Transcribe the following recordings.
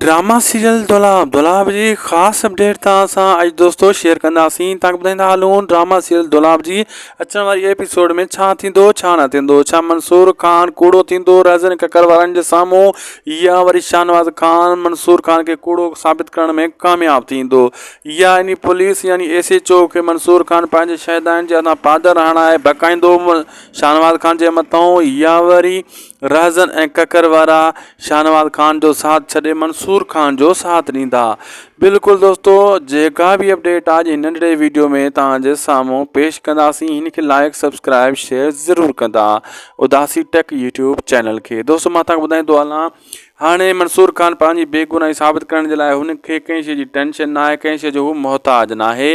Drama serial دولهه دولاب جي خاص اپڊيٽ تان اسان اڄ دوستو شيئر ڪنداسين تانڪ ٻڌائيندا هلون ڊراما سيريل دولاب جي اچڻ واري ايپيسوڊ ۾ ڇا ٿيندو ڇا نه ٿيندو ڇا منصور خان ڪوڙو ٿيندو رهزن ککر وارن جي سامهون يا وري شاهنواز خان منصور خان کي ڪوڙو ثابت ڪرڻ ۾ ڪامياب ٿيندو يا اني پوليس يعني ايس ايچ او کي منصور خان پنهنجي شهدائن جي هٿان پادر هڻائي بهڪائيندو شاهنواز خان جي مٿان يا وري رهزن ۽ ڪڪر وارا شاهنواز خان جو ساٿ ڇڏي منصور خان جو ساٿ ڏيندا بلڪل دوستو جيڪا به اپڊيٽ آج هن ننڍڙي ويڊيو ۾ توهان جي سامهون پيش ڪنداسين هن کي لائڪ سبسڪرائب شيئر ضرور ڪندا اداسي ٽيڪ يوٽيوب چينل کي دوستو مان توهان ٻڌائيندو هلان هاڻي منصور خان پنهنجي بيگناهي ثابت ڪرڻ جي لاء هن کي ڪنهن شيء جي ٽينشن ناهي ڪنهن شيء جو هو محتاج ناهي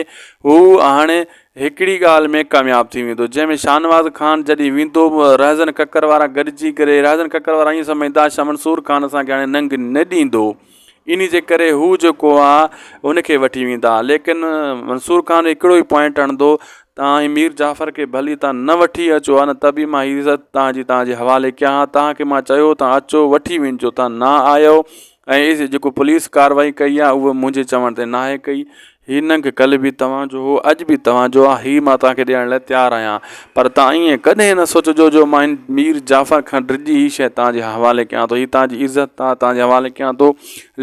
هو هاڻي هڪڙي ڳالهه ۾ ڪامياب ٿي ويندو جنهن ۾ شاهنواز خان جڏهن ويندو رهزن ڪڪر وارا گڏجي ڪري رهزن ڪڪر وارا ائين سمجهندا شاهه منصور خان اسان کي هاڻي ننگ نه ڏيندو انهي جي ڪري هو جيڪو آ ان کي وٺي ويندا ليڪن منصور خان هڪڙو ئي پوائنٽ هڻندو تان هي مير جعفر کي ڀلي تان نه وٺي اچو آ نه ته به مان هي عزت تان جي تان جي حوالي ڪيان ها تان کي مان چيو تان اچو وٺي وينجو تان نه آيو ۽ جيڪو پوليس ڪاروائي ڪئي آهي اهو منهنجي چوڻ تي ناهي ڪئي هي ننگ ڪل به توهان جو هو اڄ به توهان جو آهي هي مان توهان کي ڏيڻ لاء تيار آهيان پر توهان ائين ڪڏهن نه سوچجو جو مان هن مير جعفر کان ڊڄي هي شيء توهان جي حوالي ڪيان ٿو هي توهان جي عزت آهي توهان جي حوالي ڪيان ٿو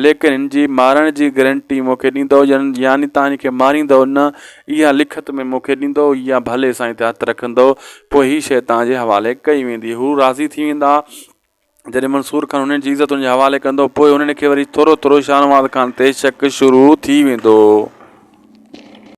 ليڪن هن جي مارڻ جي گرنٽي مون کي ڏيندؤ يعني توهان هن کي ماريندؤ نه اها لکت ۾ مون کي ڏيندؤ يا ڀلي سائين تي هٿ رکندؤ پوء هي شيء توهان جي حوالي ڪئي ويندي هو راضي ٿي ويندا جڏهن منصور خان هنن جي عزت هن جي حوالي ڪندو پوء هنن کي وري ٿورو ٿورو شاهنواز خان تي شڪ شروع ٿي ويندو.